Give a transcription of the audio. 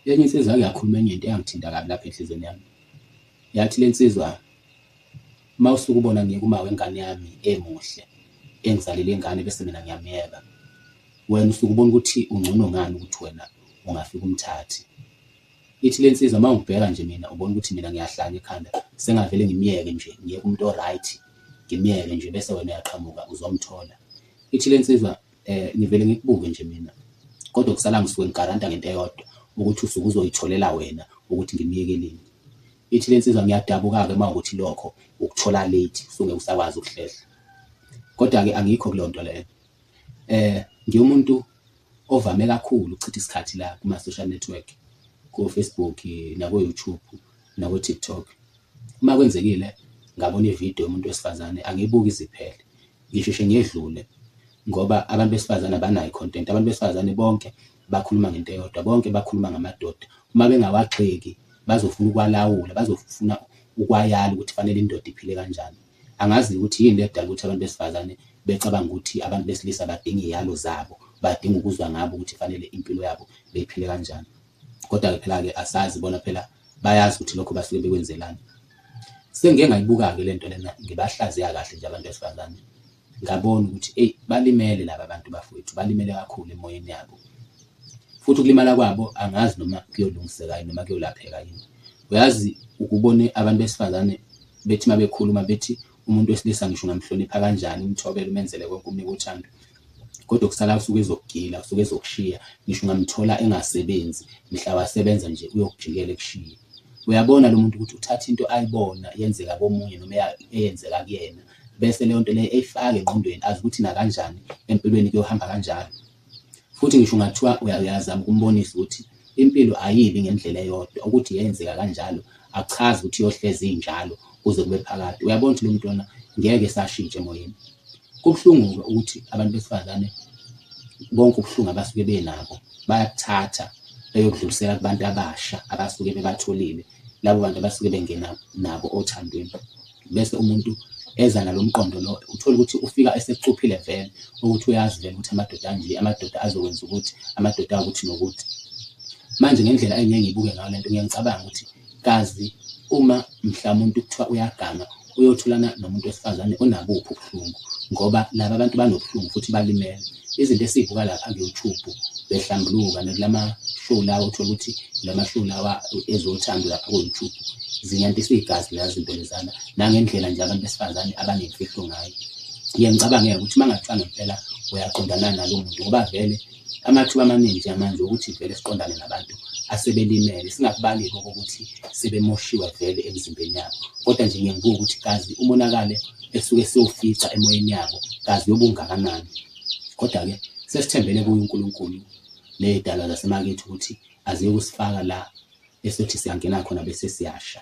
Enye insizwa yake yakhuluma enye into eyangithinta kabi lapha enhlizweni yami. Yathi le nsizwa, uma usuke ubona ngiyeka uma wengane yami emuhle, engizalele ingane bese mina ngiyamyeka. Wena usuke ubona ukuthi ungcono ngani ukuthi wena ungafika umthathe. Ithi le nsizwa uma ungibheka nje mina ubona ukuthi mina ngiyahlanya ekhanda, sengavele ngimyeke nje, ngiyeke umuntu o-right, ngimyeke nje bese wena uyaqhamuka uzomthola. Ithi le nsizwa. Eh ngivele ngikubuke nje mina. Kodwa kusala ngisuke ngigaranta ngento eyodwa ukuthi usuke uzoyitholela wena ukuthi ngimyekeleni. Ithi lensizwa ngiyadabuka-ke uma ukuthi lokho ukuthola late usungeke usakwazi ukuhlehla. Kodwa-ke angikho kulonto leyo. Eh ngiwumuntu ovame kakhulu ukuchitha isikhathi la kuma social network ko Facebook nako YouTube nako TikTok. Uma kwenzekile ngabona ivideo yomuntu wesifazane angiyibuki iziphele. Ngisheshe ngedlule ngoba abantu besifazane abanayo i-content. Abantu besifazane bonke bakhuluma ngento eyodwa, bonke bakhuluma ngamadoda. Uma bengawagxeki bazofuna ukwalawula, bazofuna ukwayala ukuthi fanele indoda iphile kanjani. Angazi ukuthi yini edala ukuthi abantu besifazane becabanga ukuthi abantu besilisa badinga iyalo zabo, badinga ukuzwa ngabo ukuthi fanele impilo yabo beyiphile kanjani. Kodwa-ke phela-ke asazi bona phela bayazi ukuthi lokho basuke bekwenzelani. Sengike ngayibuka-ke le nto lena ngibahlaziya kahle nje abantu besifazane ngabona ukuthi eyi balimele laba bantu bafowethu balimele kakhulu emoyeni yabo futhi ukulimala kwabo angazi noma kuyolungiseka yini noma kuyolapheka yini uyazi ukubone abantu besifazane bethi uma bekhuluma bethi Umuntu wesilisa ngisho ungamhlonipha kanjani, umthobele, umenzele konke, umnike uthando, kodwa okusalayo usuke ezokugila, usuke ezokushiya. Ngisho ungamthola engasebenzi, mhla wasebenza nje uyokujikela ekushiye. Uyabona lo muntu ukuthi uthatha into ayibona yenzeka komunye noma eyenzeka kuyena, bese leyo nto leyo eyifaka engqondweni, azi ukuthi nakanjani empilweni kuyohamba kanjalo. Futhi ngisho ungathiwa uyazama ukumbonisa ukuthi impilo ayibi ngendlela eyodwa, ukuthi yenzeka kanjalo akuchazi ukuthi iyohlezi injalo kuze kube phakade. Uyabona ukuthi lo muntu lona ngeke esashintsha emoyeni. Kubuhlungu-ke ukuthi abantu besifazane bonke ubuhlungu abasuke benabo bayakuthatha beyokudlulisela kubantu abasha abasuke bebatholile, labo bantu abasuke bengena nabo othandweni. bese umuntu eza nalomqondo lo uthola ukuthi ufika esekucuphile vele ukuthi uyazi vele ukuthi amadoda anje amadoda azokwenza ukuthi amadoda ukuthi nokuthi manje ngendlela engiye ngibuke ngayo lento ngiye ngicabanga ukuthi kazi uma mhlawumbe umuntu kuthiwa uyaganga uyothulana nomuntu wesifazane onabuphi ubuhlungu ngoba nabo abantu banobuhlungu futhi balimele izinto esizibuka lapha ku-youtube behlambuluka nakulama show lawa uthole ukuthi lama show lawa ezothando lapha ku-youtube zinyantisa igazi leya zinto lezana nangendlela nje abantu besifazane abanemfihlo ngayo ngiye ngicabangeke ukuthi uma ngathiwa ngempela uyaqondana nalo muntu ngoba vele Amathuba amaningi njengamanje okuthi vele siqondane nabantu asebelimele, singakubali-ke okokuthi sebemoshiwe vele emizimbeni yabo, kodwa nje ngiye ngibuke ukuthi kazi umonakalo esuke siwufica emoyeni yabo kazi uyobe ungakanani. Kodwa-ke sesithembele kuye uNkulunkulu nezidalwa zasemakethu ukuthi aziyokusifaka la esothi siyangena khona bese siyasha.